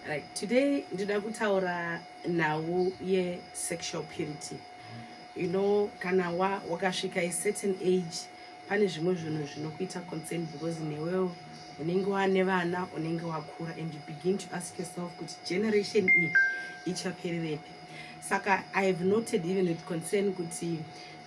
Right. Today ndida kutaura nhau yesexual purity. You know, kana wa wakasvika a certain age pane zvimwe zvinhu zvinokuita concern because newewo unenge wane vana unenge wakura and you begin to ask yourself kuti generation iyi ichapererepi saka i have noted even with concern kuti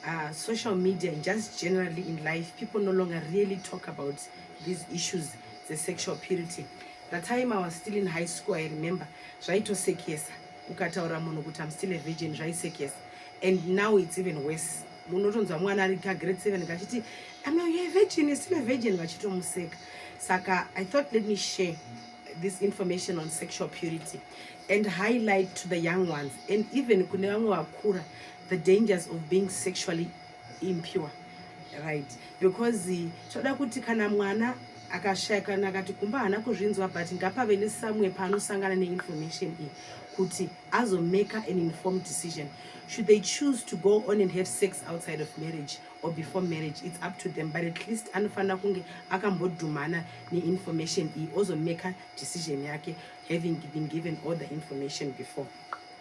uh, social media and just generally in life people no longer really talk about these issues the sexual purity The time I was still in high school, I remember, zvaitosekesa. Ukataura munhu kuti I'm still a virgin, zvaisekesa. And now it's even worse. Munotonzwa mwana ari ka grade 7 kachiti, I'm not a virgin, you're still a virgin, vachitomuseka. Saka, I thought let me share this information on sexual purity and highlight to the young ones and even kune vamwe vakura the dangers of being sexually impure right because toda kuti kana mwana akashaya kana akati kumba haana kuzvinzwa but ngapave nesamwe paanosangana neinformation iyi kuti azomaker an informed decision should they choose to go on and have sex outside of marriage or before marriage it's up to them but at least anofanira kunge akambodhumana neinformation iyi ozomaker decision yake having been given all the information before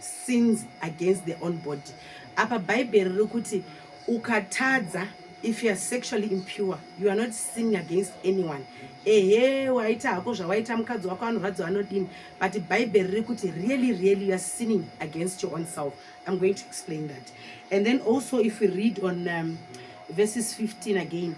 sins against their own body apa bhaibheri riri kuti ukatadza if you are sexually impure you are not sinning against anyone ehe waita hako zvawaita mukadzi wako anorwadziwa anodini but bhaibheri riri kuti really really you are sinning against your own self i'm going to explain that and then also if we read on um, verses 15 again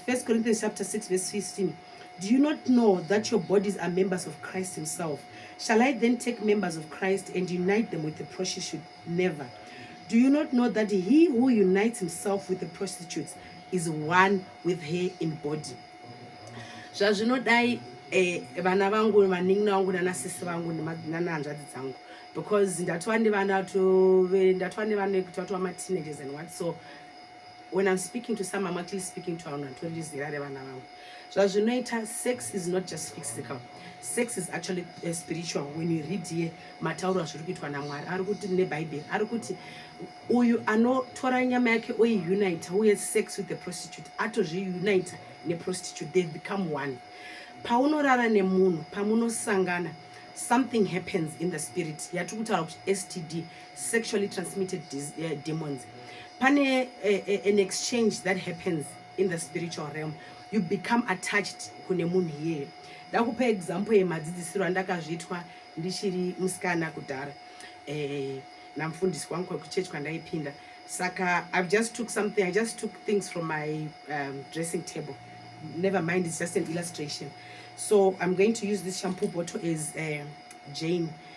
1 Corinthians chapter 6 verse 15 Do you not know that your bodies are members of Christ himself? Shall I then take members of Christ and unite them with the prostitute? Never. Do you not know that he who unites himself with the prostitute is one with her in body? zvazvinodai eh, vana vangu vanin'ina vangu nanasisi vangu nanahanzvadzi dzangu because ndatova nevana tove ndatova nevana ekutova tova mateenagers and what so when i'm speaking to some i'm actually speaking to vanhu vatori zera revana vangu zvazvinoita sex is not just physical sex is actually uh, spiritual when you read here matauro azviri kuitwa namwari ari kuti nebhaibheri ari kuti uyu anotora nyama yake oiunita uye sex with the prostitute atozviunita neprostitute they become one paunorara nemunhu pamunosangana something happens in the spirit yatiri kutaura kuti std sexually transmitted eh, demons pane eh, eh, an exchange that happens in the spiritual realm you become attached kune munhu iyeye ndakupa example yemadzidzisiro andakazviitwa ndichiri musikana kudhara eh, namfundisi wangu kwekuchechi kwandaipinda saka i just took something i just took things from my um, dressing table never mind it's just an illustration so i'm going to use this shampoo bottle as uh, jane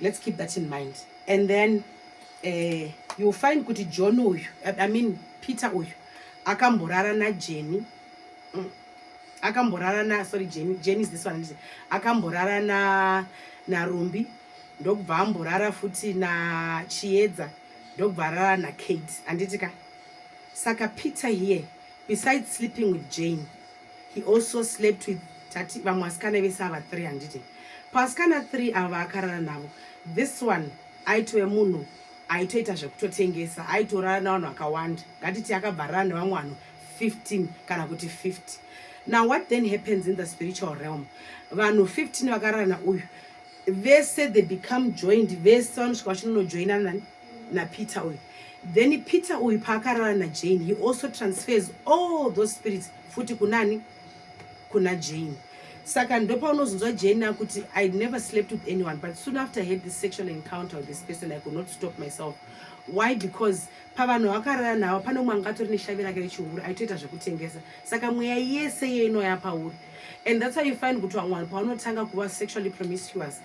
let's keep that in mind and then uh, you'll find kuti john uyu i mean peter uyu akamborara najeni mm. akamborara na sorry jeni jeni is this one akamborara na narumbi ndokubva amborara futi na chiedza ndokubva arara nakate handiti ka saka peter here besides sleeping with jane he also slept with tati vamwe vasikana vese ava three handiti pavasikana three ava vaakarara navo this one aitove munhu aitoita zvekutotengesa aitorara navanhu vakawanda ngatiti akabva arara nevamwe vanhu 15 kana kuti 50 now what then happens in the spiritual realm vanhu 15 vakarara nauyu vese they become joined vese vanosvika vachinonojoinana nani napeter uyu then peter uyu paakarara najane he also transfers all those spirits futi kunani kuna jane saka ndopaunozonzwa jane akuti i never slept with anyone but soon after i had this sexual encounter with this person i could not stop myself why because pavanhu vakarara navo pane umwe anga atori neshavi rake rechihuru aitoita zvekutengesa saka mweya yese iyo inoya pauri and that's why you find kuti vamwe vanhu pavanotanga kuva sexually promiscuous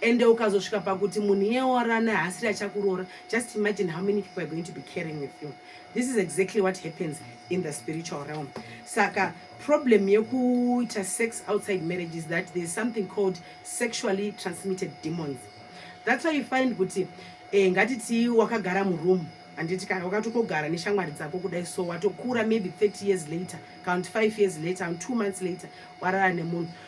ende ukazosvika pakuti munhu iye orana haasiri achakuroora just imagine how many people are going to be caring with you this is exactly what happens in the spiritual realm saka problem yekuita sex outside marriage is that there is something called sexually transmitted demons that's why you find kuti eh, ngatitii wakagara muroom handiti kana wakatokogara neshamwari dzako kudai so watokura maybe 30 years later kana kuti 5 years later kana 2 months later warara nemunhu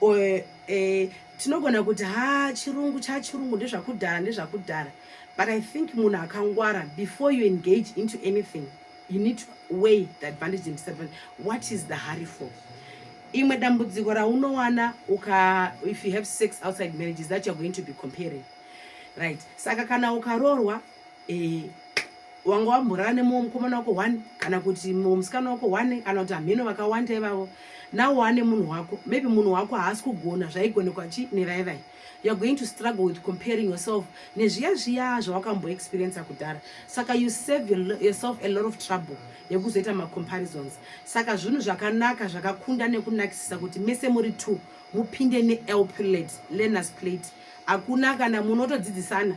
or eh, tinogona kuti ha chirungu chachirungu ndezvakudhara ndezvakudhara but i think munhu akangwara before you engage into anything you need to weigh the advantage and disadvantage what is the hurry for imwe dambudziko raunowana uka if you have sex outside marriage is that you're going to be comparing right saka kana ukaroorwa eh, wanga wamborara nemumwe mukomana wako one kana kuti mumwe musikana wako one kana kuti hamheno vakawanda ivavo nawo wane munhu wako maybe munhu wako haasi kugona zvaigonekwa chi nevaivai youare going to struggle with comparing yourself nezviya zviya zvawakamboexperiensa kudhara saka you save yourself a lot of trouble yekuzoita macomparisons saka zvinhu zvakanaka zvakakunda nekunakisisa kuti mese muri two mupinde neelplate learners plate hakuna kana munotodzidzisana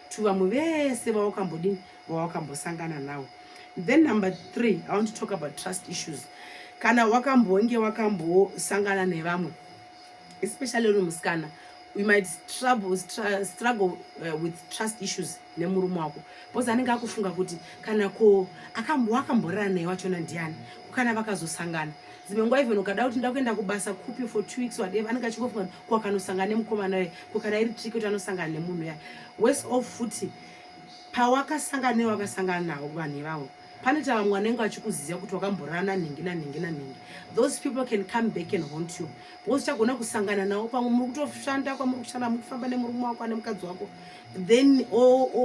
to vamwe vese vawakambodini vawakambosangana nawo then number three i want to talk about trust issues kana wakambonge wakambosangana nevamwe especially uri musikana we might trouble, stra, struggle uh, with trust issues nemurume wako bcause anenge akufunga kuti kana ko akamboakamborana naye wachona ndiani kana vakazosangana dzimwe nguva even ukada kuti ndakuenda kubasa kupi for two weeks whatever anenge achingofunga kuti kwakanosangana nemukomana uye kukana iri triki kuti anosangana nemunhu ya wes of futi pawakasangana newe wakasangana nawo vanhu ivavo pane tava mwana engu achikuziva kuti wakamborana nhingi nanhingi nanhingi those people can come back and haunt you because chagona kusangana nawo pamwe muri kutoshanda kwamuri kushanda muri kufamba nemurume wako ane mukadzi wako then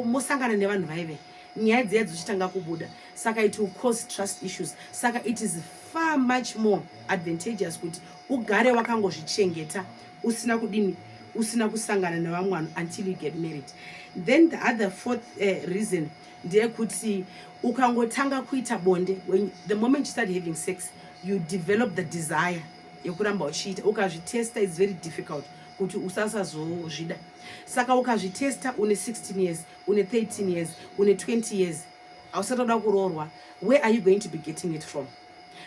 mosangana nevanhu vaive nyaya dziya dzichitanga kubuda saka it will cause trust issues saka it is far much more advantageous kuti ugare wakangozvichengeta usina kudini usina kusangana nevamwe vanhu until you get married then the other fourth uh, reason ndeyekuti ukangotanga kuita bonde when the moment you start having sex you develop the desire yekuramba uchiita ukazvitesta its very difficult kuti usasazozvida saka ukazvitesta une 16 years une 13 years une 20 years hausati wada kuroorwa where are you going to be getting it from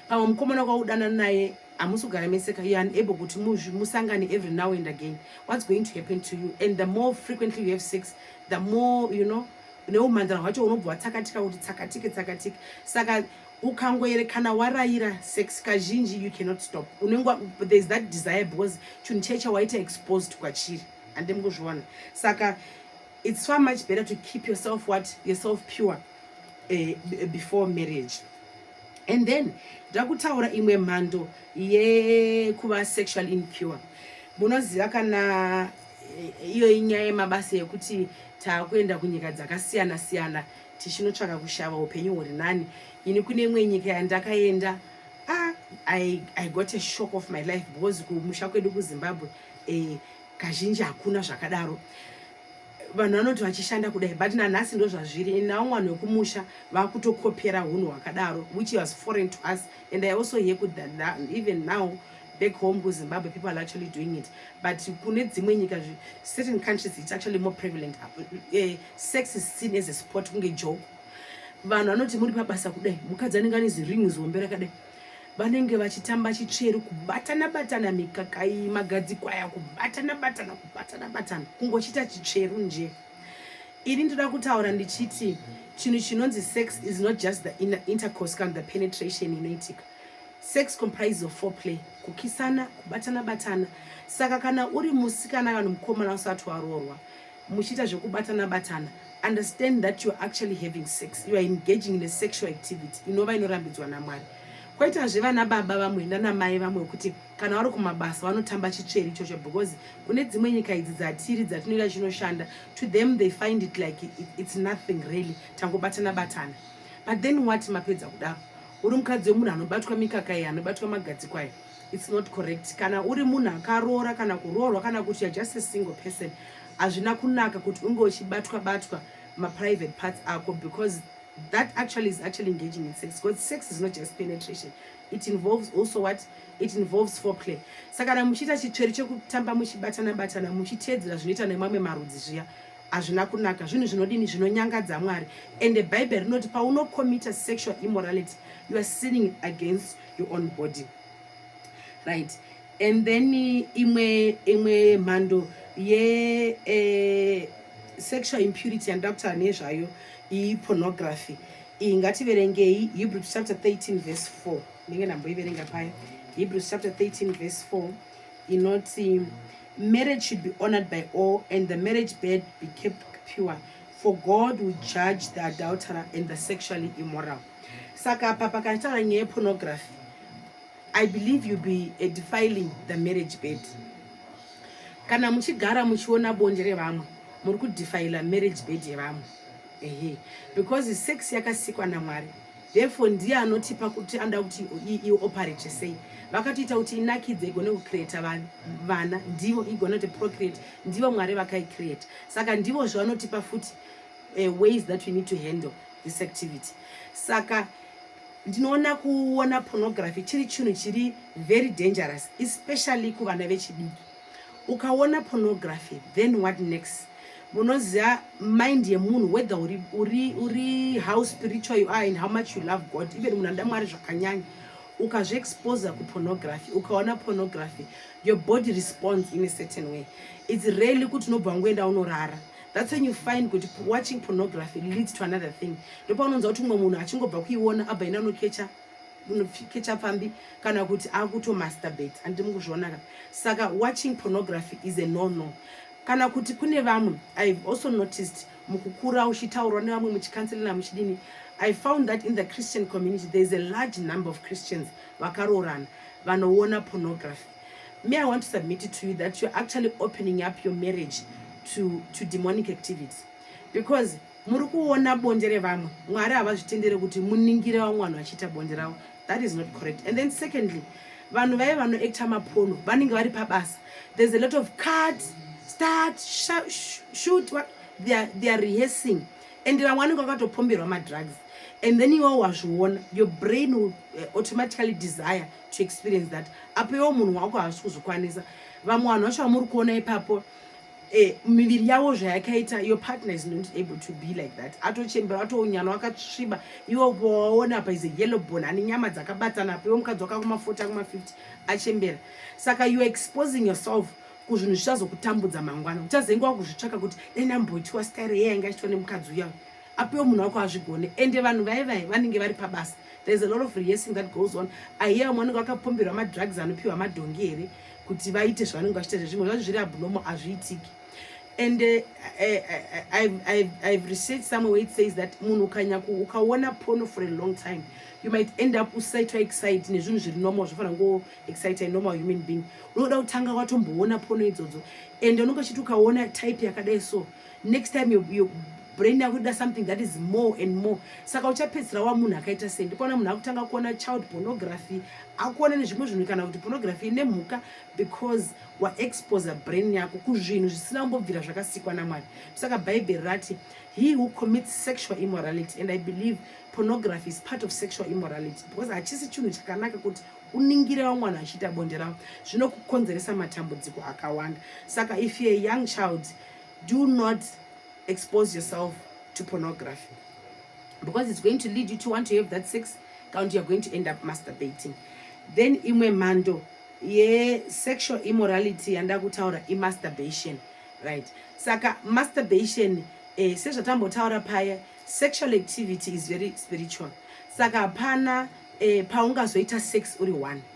pamwe mukomana kwaudana naye hamusi kugara meseka you are unable kuti musangane every now and again what's going to happen to you and the more frequently you have sex the more you know neumhandara hwacho unobva watsakatika kuti tsakatike tsakatike saka ukangoere kana warayira sex kazhinji you cannot stop unenge thereis that desire because chinhu chee chawaita exposed kwachiri hande mukuzviona saka it's far much better to keep yourself what yourself pure uh, before marriage and then ndakutaura imwe mhando yekuva sexual impure munoziva kana eh, iyo inyaya yemabasa yekuti taakuenda kunyika dzakasiyana siyana tichinotsvaka kushava upenyu huri nani ini kune imwe nyika yandakaenda ah, I, i got a shock of my life because kumusha kwedu kuzimbabwe eh, kazhinji hakuna zvakadaro vanhu vanoti vachishanda kudai but nanhasi ndo zvazviri and now vanhu vekumusha vakutokopera hunhu hwakadaro which was foreign to us and i also hear kuti that even now back home kuzimbabwe people are actually doing it but kune dzimwe nyika certain countries it's actually more prevalent uh, sex is seen as a sport kunge joke vanhu vanoti muri pabasa kudai mukadzi anenge ane ziringi zihombe rakadai vanenge vachitamba chitsveru kubatana batana mikaka iyi magadzikwa aya kubatana batana kubatana batana kungochita chitsveru nje ini ndoda kutaura ndichiti chinhu chinonzi sex is not just the intercourse kana the penetration inoitika sex comprise of four play kukisana kubatana batana saka kana uri musikana kana mukomana usati waroorwa muchiita zvekubatana batana understand that you're actually having sex you are engaging in a sexual activity inova inorambidzwa namwari koitazve vana baba vamwe nanamai vamwe kuti kana vari kumabasa vanotamba chitsveri ichocho because kune dzimwe nyika idzi dzatiri dzatinoita chinoshanda to them they find it like it's nothing really tangobatana batana but then what mapedza kudaro uri mukadzi wemunhu anobatwa mikaka iyi anobatwa magadziko aya it's not correct kana uri munhu akaroora kana kuroorwa kana kuti you're just a single person hazvina kunaka kuti unge uchibatwa batwa maprivate parts ako because that actually is actually engaging in sex because sex is not just penetration it involves also what it involves foreplay saka kana muchiita chitsveri chekutamba muchibatana batana muchiteedzera zvinoita nemamwe marudzi zviya hazvina kunaka zvinhu zvinodini zvinonyangadza mwari and the bible rinoti paunocommita sexual immorality you are sinning against your own body right and then imwe imwe mhando ye eh, sexual impurity yandida kutaura nezvayo iyi pornography iyi ngativerengei hebrews chapter 13 verse 4 ndenge ndamboiverenga paya hebrews chapter 13 verse 4 inoti marriage should be honored by all and the marriage bed be kept pure for god will judge the adulterer and the sexually immoral saka apa pakataura nyaya yepornography i believe you be eh, defiling the marriage bed kana muchigara muchiona bonde revamwe muri kudefila marriage bed yevamwe ehe because sex yakasikwa namwari therefore ndiye anotipa kuti anoda kuti ioperate sei vakatoita kuti inakidze igone kucreata vana ndivo igone kuti procreate ndivo mwari vakaicreate saka ndivo zvavanotipa futi uh, ways that we need to handle this activity saka ndinoona kuona pornography chiri chinhu chiri very dangerous especially kuvana vechidiki ukaona pornography then what next munoziva mind yemunhu whether uri, uri, uri how spiritual you are and how much you love god even munhu anoda mwari zvakanyanya ukazviexposa kupornography ukaona pornography your body response in a certain way its rarely kuti unobva wangoenda unorara that's when you find kuti watching pornography leads to another thing ndopaunonzwa kuti umwe munhu achingobva kuiona abva ina anokecha unokecha pfambi kana kuti akutomasturbate handi mukuzvionaka saka watching pornography is a no no kana kuti kune vamwe ihave also noticed mukukura uchitaurwa nevamwe muchikanselina muchidini i found that in the christian community there is a large number of christians vakaroorana vanoona pornography Me, I want to submit it to you that you're actually opening up your marriage to, to demonic activity. Because muri kuona bonde revamwe mwari havazvitendere kuti muningire vamwe vanhu vachiita bonde ravo that is not correct and then secondly vanhu vaye vanoacta mapono vanenge vari pabasa there's a lot of card start shoot what they are, they are rehearsing and vamwe vanenge vakatopomberwa madrugs and then iwawo wazviona your brain will eh, automatically desire to experience that apo iwo munhu wako haasi kuzvikwanisa vamwe vanhu vacho vamuri kuona ipapo eh, miviri yavo zvayakaita your partner is not able to be like that atochembera atounyana wakatsviba iwo waona apa is a yellow bone ane nyama dzakabatana apa iwo mukadzi wakakuma 40 akuma 50 achembera saka youare exposing yourself kuzvinhu zvichazokutambudza mangwana uchazenge wakuzvitsvaka kuti dai ndamboitiwa stare yeye ainge achitwa nemukadzi uya apiwe munhu wako azvigone ende vanhu vaye vaye vanenge vari pabasa there's a lot of rehearsing that goes on aiye vamwe vanenge vakapomberwa madrugs anopiwa madhongi here kuti vaite zvavanenge vachiita zvimwe zvacho zviri abnomo hazviitiki and uh, I, I, I, i've researched somewhere where it says that munhu ukanyaku ukaona pono for a long time you might end up usaitwa excite nezvinhu zviri normal zvofanira ngo excite a normal human being unoda kutanga watomboona pono idzodzo and unenge uchiti ukaona type yakadai so next time your, your brain yako ida something that is more and more saka uchapedzisira wa munhu akaita sei ndipona munhu akutanga kuona child pornography akuona nezvimwe zvinhu kana kuti pornography ine mhuka because waexposa brain yako kuzvinhu zvisina kumbobvira zvakasikwa namwari saka bhaibheri rati he who commits sexual immorality and i believe pornography is part of sexual immorality because hachisi chinhu chakanaka kuti uningire vamwana achiita bonde ravo zvinokukonzeresa matambudziko akawanda saka if you're a young child do not expose yourself to pornography because it's going to lead you to want to have that sex kana kuti you're going to end up masturbating then imwe mhando yesexual immorality yanda kutaura imasturbation right saka masturbation eh, sezvatambotaura paya sexual activity is very spiritual saka hapana eh, paungazoita sex uri one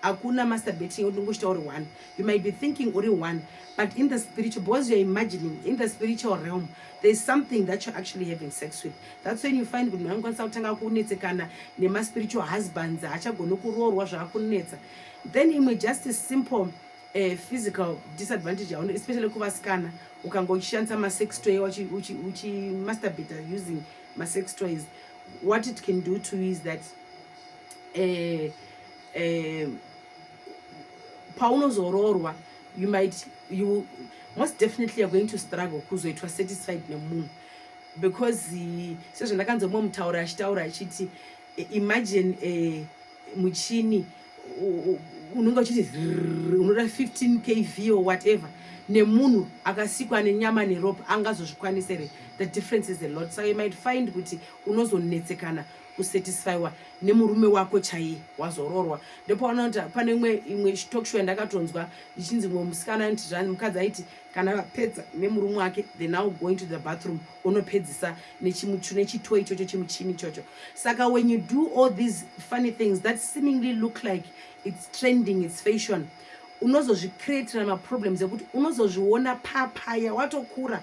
hakuna masturbate yeo ndingochita uri one you might be thinking uri one but in the spiritual because youare imagining in the spiritual realm thereis something that you're actually having sex with that's when you find kuti munhu anokwanisa kutanga kunetsekana nemaspiritual husbands haachagoni kuroorwa zvaakunetsa then imwe just simple uh, physical disadvantage yauno especially kuvasikana ukanga uchishandisa masex toy uchimasturbata using masex toys what it can do to you is that eh, eh, paunozoroorwa you might you most definitely you're going to struggle kuzoitwa satisfied nemunhu because eh, sezvandakanzwa mumwe mutauro achitaura achiti eh, imagine eh, muchini unenge uchiti unoda 15 kv or whatever nemunhu akasikwa nenyama neropa angazozvikwanisa here the difference is a lot so you might find kuti unozonetsekana kusatisfywa nemurume wako chaiye wazororwa ndopaona kuti pane imwe imwe talkshow yandakatonzwa ichinzi mumwe musikana anti zvani mukadzi aiti kana vapedza nemurume wake the now going to the bathroom unopedzisa nechito ichocho chimuchini ichocho saka when you do all these funny things that seemingly look like its trending its fashion unozozvicreatira maproblems ekuti unozozviona papaya watokura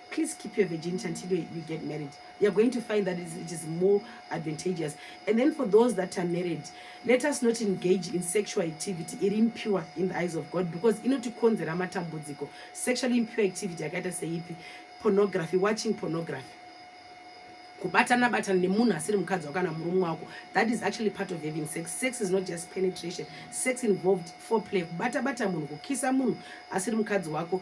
please keep your virginity until you get married you're going to find that it is more advantageous and then for those that are married let us not engage in sexual activity iri impure in the eyes of god because inotikonzera matambudziko sexually impure activity yakaita seipi pornography watching pornography kubatana batana nemunhu asiri mukadzi wako kana murume wako that is actually part of having sex sex is not just penetration sex involved foreplay kubata bata munhu kukisa munhu asiri mukadzi wako